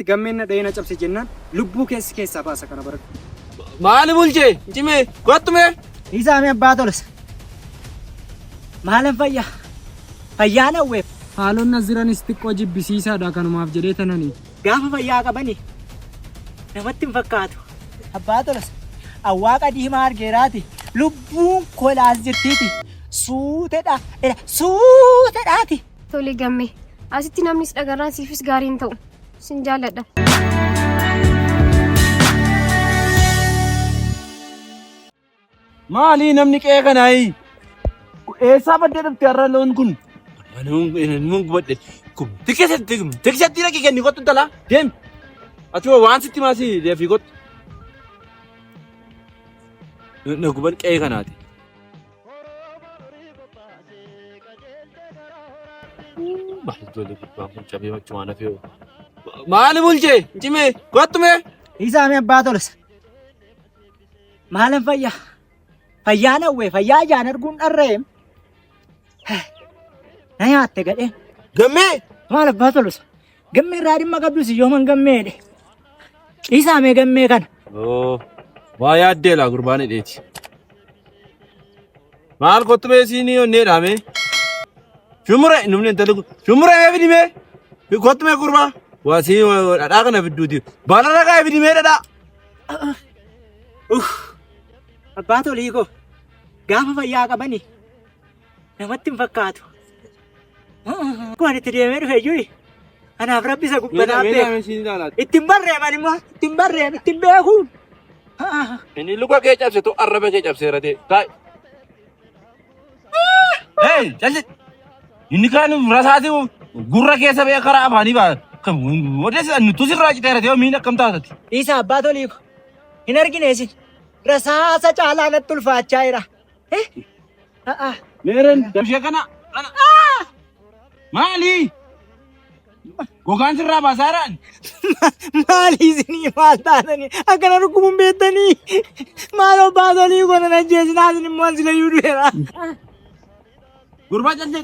Gammeen na dhahee na cabse jennaan lubbuu kee si keessaa baasa kana baradhu. Maali bulche? Cime kottu mee. Isaamee abbaa tolas. Maalan fayyaa? Fayyaan hawweef. Haaloon as jiranis xiqqoo jibbisiisaadha kanumaaf jedhee tanani. Gaafa fayyaa qabani namatti hin fakkaatu. Abbaa tolas. Awwaaqa diimaa argeeraati. Lubbuun kolaas jirtiiti. Suutedha. Suutedhaati. Tole gamme. Asitti namnis dhagarraan siifis gaarii hin ta'u. Sin jaalladha. Maalii namni qe'ee kanaayi? Eessaa baddee dhufte har'a loon kun? Manummaan gubadhe. Gubdi keessatti gubdi keessatti dhaqi kenni kottu intalaa deemi. Achuma waan sitti maasii deefi kottu. Na guban qe'ee kanaati. Horooma horii bobbaase qajeelte gara horaatti. Uu, Maal ijoollee gubbaan kun cabee machumaan hafee hoo. Maali bulchee? Cimee? Kottu mee? Isaami abbaa tolsa. Maalan fayyaa? Fayyaa nawwee fayyaa ijaan arguun dharra'eem. Na nyaatte gadheen. Gammee? Maal abbaa tolsa? Gammee irraa dhimma qabdu si yooman gammee jedhe. Dhiisaa mee gammee kana. Oo, waa yaaddee laa gurbaan hidheeti. Maal kottu bee siinii onnee dhaame? Shumure, numni intalli kun. Shumure mee fidimee? Kottu mee gurbaa? Waa sii dhadhaa kana fidduuti. Baala dhagaa fidimee dhadhaa. Abbaa tolii koo gaafa fayyaa qabani Namatti hin fakkaatu. Waan itti deemee dhufe iyyuu kanaaf rabbi isa gubbataa beeku. Ittiin barreeman immoo ittiin barreeman ittiin beekuun. Inni luka kee cabsitu arraba kee cabseera ta'e. Taa'e. Hey, calli. Inni kaan murasaati gurra keessa bee karaa afaanii baa. Kan odeessa nutu sirraa citeera ta'e miin akkam taatati. Dhiisa abbaa toliiko. Hin argine isin. Rasaasa caalaa natti ulfaachaa jira. Meereen damshee kana kana. Maali? Gogaan sirraa baasaa jiraan? Maali isinii maal taatanii akkana dhukkubun beektanii maaloo baatolii goona na jeesinaa isin immoo an silayyuu du'eera. Gurbaa callee.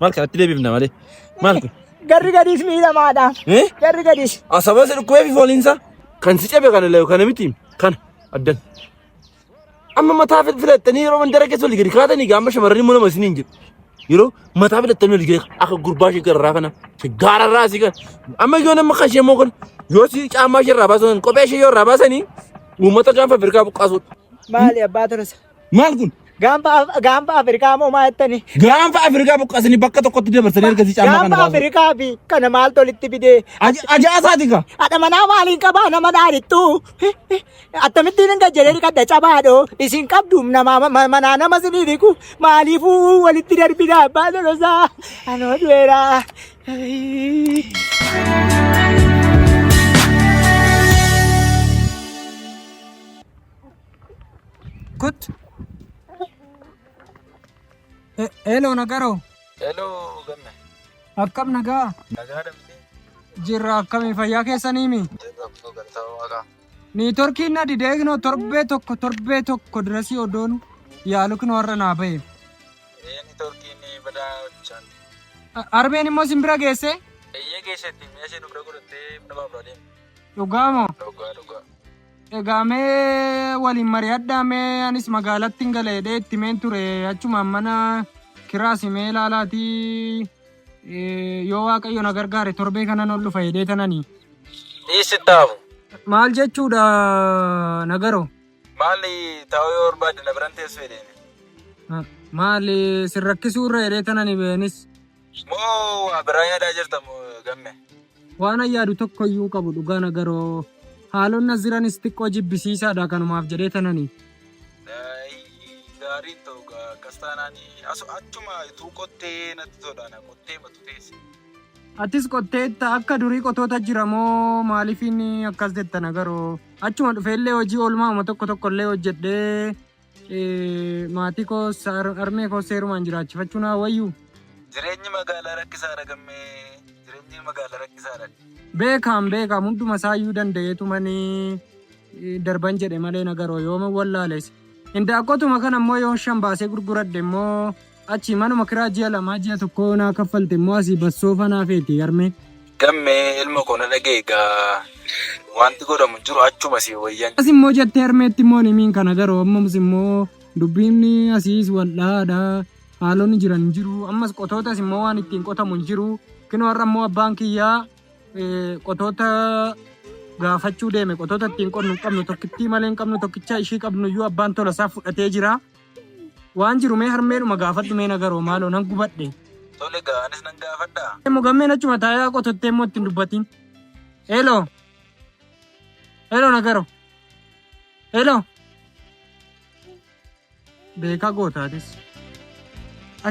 Maal kanatti deebifna malee? Maal kun? Garri gadiis miidhamaadha. Eh? Garri gadiis. Asaba isa dhukkubee fi fooliinsa kan si cabe kana illee kana miti kana addan. Amma mataa fil- filattanii yeroo mandara keessa olii gadi kaatanii gaama shamarranii immoo nama isin hin jedhu. Yeroo mataa filattanii olii gadi akka gurbaa ishee gararraa kana gaararraa asii kana. Amma yoo nama kan ishee immoo kun yoo si caamaa ishee irraa baasan kophee ishee yoo irraa baasanii uummata gaanfa Afrikaa buqqaasuudha. Maali abbaa tarasa. Maal kun? Gaanfa Af- gaanfa Afrikaa moo maa jettanii? Gaanfa Afrikaa buqqasanii bakka tokkotti dabarsanii ergasii caamaa kana Gaanfa baasu. Afrikaa fi kana maal tolitti fidee? Aja- Ajaasaati kaa. Haadha manaa maaliin qabaa nama dhaarittu? Akkamittiin hin gajjalee dhiqadha cabaadho. Isin qabdu nama ma- manaa nama sinii dhiqu. Maaliifuu walitti darbina abbaa lolosaa. Anoo du'eera. Kut. Hello Nagaroo. Hello Gamme. Akkam nagaa? Nagaa dhabdee. Jirra akkamii fayyaa keessaniimi? Jirra kunoo galtaa waaqaa. Niitorkiin na didee kunoo torbee tokko torbee tokko dirasii odoon yaalu kunoo har'a naa bahe. Eeni torkiin badaa bishaan. Arbeen immoo isin bira geessee? Eeyyee keessatti mi'a ishee nu bira godhattee mana baabura deemte. Dhugaa moo? Dhugaa dhugaa. Egaa mee waliin mari'adhaa mee anis magaalatti hin gala jedhee itti meen ture achumaan mana kiraasi mee ilaalaatii eh, yoo waaqayyo na gargaare torbee kanan ol dhufa jedhee tananii. Dhiisittaafu. Maal jechuudha nagaroo? Maalli taa'uu yoo barbaadde na biran teessuu jedheeni. Maali sin rakkisuu irra jedhee tananii beenis. Moo waa biraa yaadaa jirta moo gamme? Waanan yaadu tokkoyyuu hin qabu dhugaa na garoo. Haaloon na jiranis xiqqoo jibbisiisaadha kanumaaf jedhee tanani. Daayii gaariin ta'u gaa akkas taanaan asu achuma ituu qottee natti tola na qottee matu teesse. Atis qotteetta akka durii qotoota jira moo maalifiin akkas jetta na garoo. Achuma dhufeellee hojii oolmaa'uma tokko tokkollee hojjedhee. Maatii koo harmee koo seerumaan jiraachifachuu naa wayyu. Jireenyi magaalaa rakkisaadha gammee. Jireenyi magaalaa rakkisaadha. Beekaam beekaam hunduma isaayyuu danda'eetu manii darban jedhe malee nagaroo yooma wallaales. Indaaqqotuma kana immoo yoon shan baasee gurguradhe immoo Achi manuma kiraa ji'a lamaa ji'a tokkoo yoo naa kaffalte immoo asii bassoo fanaa feeti yarmee. Gammee ilma koo na dhaga'i gaa wanti godhamu jiru achuma sii wayyan. As immoo jettee harmeetti immoo hin himiin kana garuu ammas immoo dubbiin asiis wal dhahaadha haalonni jiran hin jiru ammas qotootas immoo waan ittiin qotamu hin jiru kinoo har'a immoo abbaan kiyyaa eh, qotoota gaafachuu deeme qotoota ittiin qonnu hin qabnu tokkittii malee hin qabnu tokkicha ishii qabnu iyyuu abbaan tola isaa fudhatee jira. Waan jiru mee harmeedhuma gaafadhu mee nagaroo maaloo nan gubadhe. Tole gaa anis nan gaafadhaa. Immoo gammeen achuma taayaa qotottee immoo ittiin dubbatiin. Hello. Hello nagaro. Hello. Beekaa gootaatis.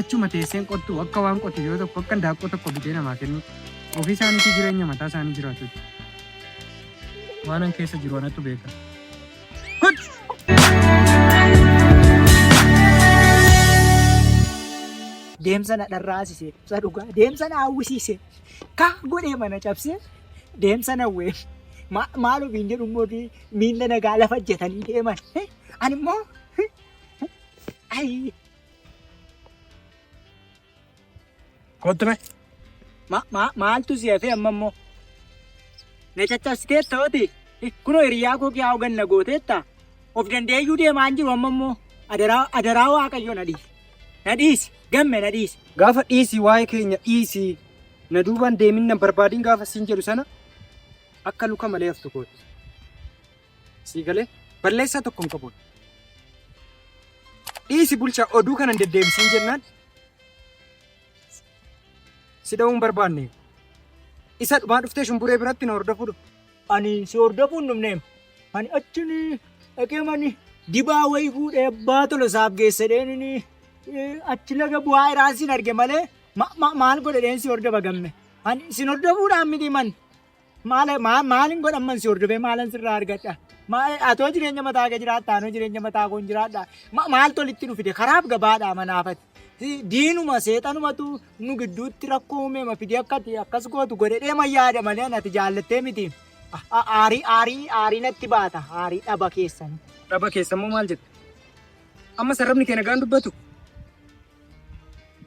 Achuma teesseen qottu akka waan qotu yoo tokko akka daaqqoo tokko bitee namaa kennu ofii isaaniitii jireenya mataa isaanii jiraatu. Waanan keessa jiru anatu beeka. Deemsa na dharraasise ibsa dhugaa. Deemsa na hawwisiise. Kaa godhee mana cabsee deemsa na wee. Maal ofiin jedhu immoo fi miila nagaa lafa jetanii deeman. Ani immoo ayi Kottu mee. Ma, ma, maaltu si hafee amma immoo? Na caccabsiteetta oti. Kunoo hiriyaa koo kiyaa hogan na gooteetta. Of danda'eeyyuu deemaa hin jiru amma immoo. Adaraa, adaraa waaqayyo na dhiisi. Na dhiisi. Gamme na dhiisi. Gaafa dhiisi waa'ee keenya dhiisi. Na duubaan deemin nan barbaadin gaafa siin jedhu sana akka luka malee haftu kooti. Sii galee balleessaa tokko hin qabu. Dhiisi bulchaa oduu kana hin deddeebisiin jennaan Si dha'uu hin barbaanne. Isa dhumaa dhuftee shumburee biratti na hordofuu dhufte. Ani si hordofuu hin dhufneem. Ani achin dhaqee mani dibaa wayii fuudhee abbaa tolo isaaf geesse dheenini achi laga bu'aa iraan sin arge malee ma- ma- maal godhe dheen si hordofa gamme. Ani sin hordofuudhaan miti man. Maal maal maalin godha amman si hordofee maalan sirraa argadha? Maal atoo jireenya mataa kee jiraadha anoo jireenya mataa koon jiraadha. Ma- Maal tolitti nu fide karaaf gabaadha manaafati. Si- Diinuma seexanumatu nu gidduutti rakkoo uumeema fide akka ati akkas gootu godhe dheema yaada malee ani ati jaallattee miti. A- a- Aarii aarii aarii natti baata aarii dhaba keessan. Dhaba keessammoo maal jette? Amma sarrabni kee nagaan dubbatu?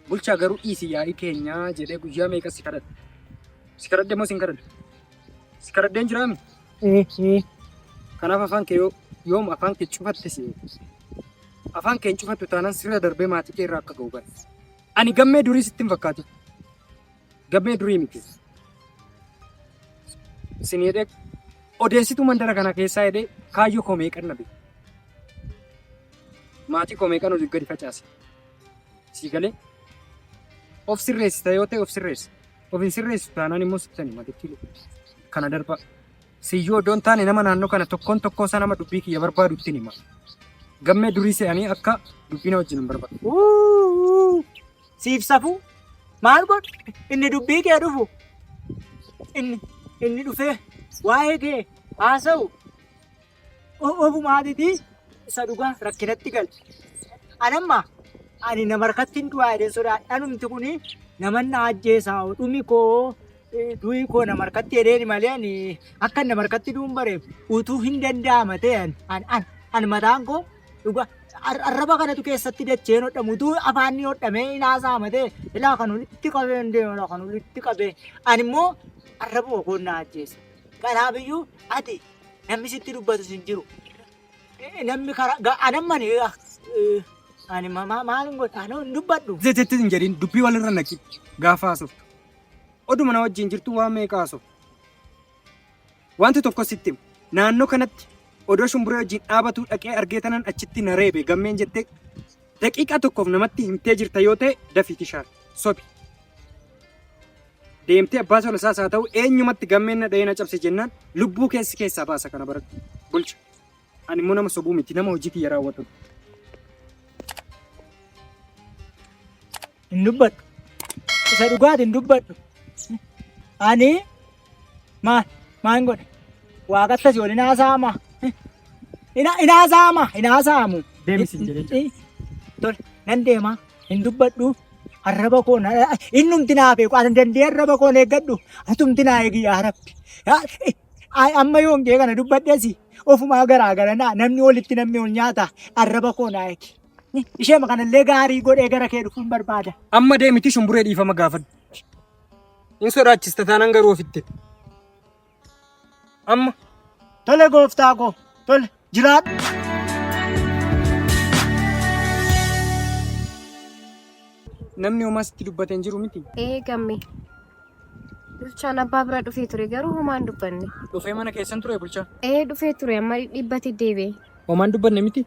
Bulchaa garuu dhiisi yaa'ii keenyaa jedhee guyyaa meeqa si kadhadhe. Si kadhadhe moo sin kadhadhe? Si kadhadheen jiraami? Kanaaf afaan kee yoo yoom afaan kee cufatte si afaan kee hin cufattu taanaan sirra darbee maatii kee irraa akka ga'u bara. Ani gammee durii sitti hin fakkaatu. Gammee durii miti. Sin jedhee odeessituu mandara kana keessaa jedhee kaayyoo koo meeqan na beeku. maatii koo meeqan oliif gadi facaase sii galee of sirreessita yoo ta'e of sirreessa of hin sirreessitu taanaan immoo sittani matitti kana darbaa siyyoo iddoon taane nama naannoo kana tokkoon tokkoo isaa nama dubbii kiyya barbaadu ittiin hima gammee durii se'anii akka dubbii na wajjin hin barbaadu. Uuu, siif safuu maal godhu inni dubbii kee dhufu inni inni dhufee waa'ee kee haasa'u Ofuma aditi isa dhugaa rakkinatti gal. Anamma ani nama harkatti hin du'aa jedhee sodaadha. Anumti kun naman na ajjeesaa dhumi koo du'i koo nama harkatti jedheeni malee ani akka nama harkatti du'uun bareef utuu hin danda'ama ta'e an an an an mataan koo dhugaa ar- arraba kanatu keessatti dacheen hodhamu utuu afaan ni hodhamee hin haasa'ama ta'e ilaa kan walitti qabee hin deemu ilaa kan walitti qabee ani immoo arrabuma koo na ajjeesa. Kanaaf iyyuu ati Namni sitti dubbatus hin jiru. Eh, Namni karaa ga- anamman eh, ah, eh, ani ma- ma- maal hin godha anoo hin dubbadhu. Jetetti hin jedhin dubbii walirra naqi gaafa haasoftu. Oduma na wajjin jirtu waan meeqa haasoftu. Wanti tokko sitti hima. naannoo kanatti odoo shumburee wajjin dhaabatu dhaqee argee tanan achitti na reebe gammeen jettee daqiiqaa tokkoof namatti himtee jirta yoo ta'e dafiiti shaar sobi. Deemtee abbaa solasaas haa ta'u eenyumatti gammeen na dha'ee na cabse jennaan lubbuu keessi keessaa baasa kana baratti. Bulcha. Ani immoo nama sobuu miti nama hojii kiyya raawwatu. hin dubbadhu isa dhugaati hin dubbadhu ani maal maal hin godhe waaqattas wal hin haasaama hin haasaama hin haasaamu Deemisi hin jedhin. tole nan deemaa hin dubbadhu arraba koo na innumti naa beeku ani dandee arraba koo na eeggadhu atumti naa eegi yaa rabbi Yaa- eh, ay- amma yoon kee kana dubbadhesi ofumaa garaa gara naa namni walitti namni ol nyaata arraba koo naa eegi Eh, isheema kanallee gaarii godhee gara kee dhufuun barbaada Amma deemiti shumburee dhiifama gaafadhu. Hin sodaachista taanaan garuu ofitti. Amma tole gooftaa koo tole jiraadhu. Namni homaa sitti dubbate hin jiru miti. Ee gamme. Bulchaan abbaa bira dhufee ture garuu homaa hin dubbanne. Dhufee mana keessan ture bulchaa. Ee dhufee ture amma dhibbate deebi'e. Homaa hin dubbanne miti.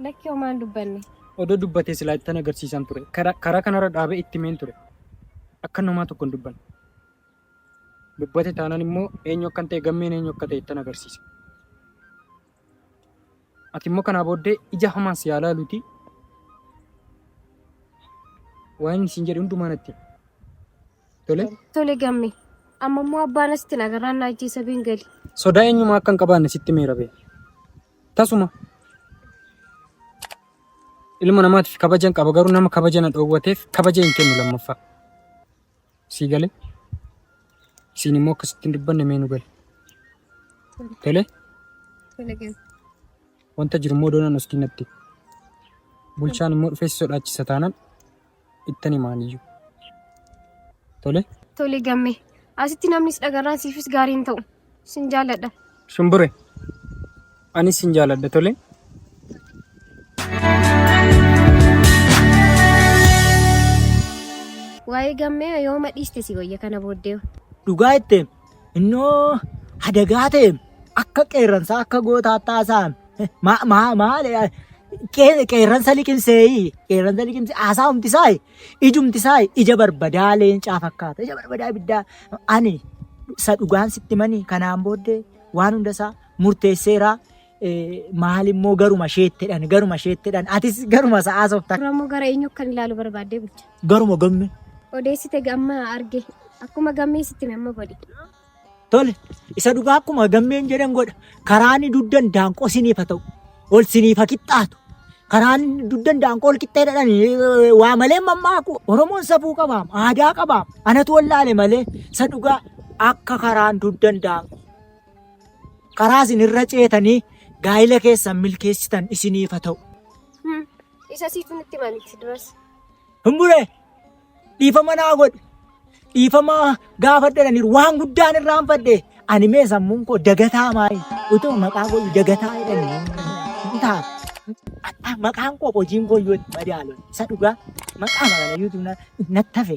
Lakki homaa hin dubbanne. Odoo dubbatee silaa ittan agarsiisan ture. Karaa karaa kanarra dhaabee itti meen ture. Akka namaa tokko hin dubbanne. dubbate taanaan immoo eenyu akkan ta'e gammeen eenyu akka ta'e ittan agarsiisa. Ati immoo kanaa booddee ija hamaan si haa laaluuti waan inni siin jedhe hundumaa natti himi. Tole Tole gamme. Amma immoo abbaan asitti nagarraan na ajjeesa been gali. sodaa eenyumaa akka hin qabaanne sitti meera bee. Tasuma ilma namaatiif kabajan qaba garuu nama kabaja na dhoowwateef kabaja hin kennu lammaffaa. Sii gale? Isiin immoo akkasitti hin dubbanne mee nu gale? Tole? Tole gale. Wanta jiru immoo doonaan oskii natti. Bulchaan immoo dhufee si sodaachisa taanaan ittan himaan iyyuu. Tole? Tole gamme. Asitti namnis dhagarraan siifis gaarii hin ta'u. Sin jaaladha. Shumbure. Anis sin jaaladha tole. Waa'ee gammee yooma dhiiste si wayya kana booddee. Dhugaa itti innoo hadagaa ta'e akka qeerransaa akka gootaa taasaan maal qeerransa liqimsee qeerransa liqimsee haasaa humtisaa Ijumti isaa ija barbadaa leencaa fakkaata. Ija barbadaa ibiddaa ani isa dhugaan sitti mani kanaan booddee waan hunda isaa murteesseeraa maal immoo garuma sheettedhan garuma sheettedhan atis garuma sa'aa soofta. Oromoo gara eenyu kan ilaalu barbaaddee bulcha. Garuma gamme. Odeessite gamma arge akkuma gammee sitti amma godhi. Tole, isa dhugaa akkuma gammeen jedhan godha. Karaan inni duddan daanqoo siniif haa ta'u. Ol siniif haa qixxaatu. Karaan inni duddan daanqoo ol qixxee dhadhan eh, waa malee mammaaku. Oromoon safuu qabaam, aadaa qabaam. Anatu wallaale malee isa dhugaa akka karaan duddan daanqoo. Karaa isin irra ceetanii gaa'ila keessan milkeessitan isiniif haa ta'u. Isa siitu nutti himanitti duras. Hin buree! dhiifama naa godhi dhiifama gaafadhedhaniiru waan guddaan irraan fadhe ani mee sammuun koo dagataa maayi utuu maqaa koo dagataa jedhanii taa maqaan koo hojiin koo yoo itti madaalu isa dhugaa maqaa magana yuutuun nattafe.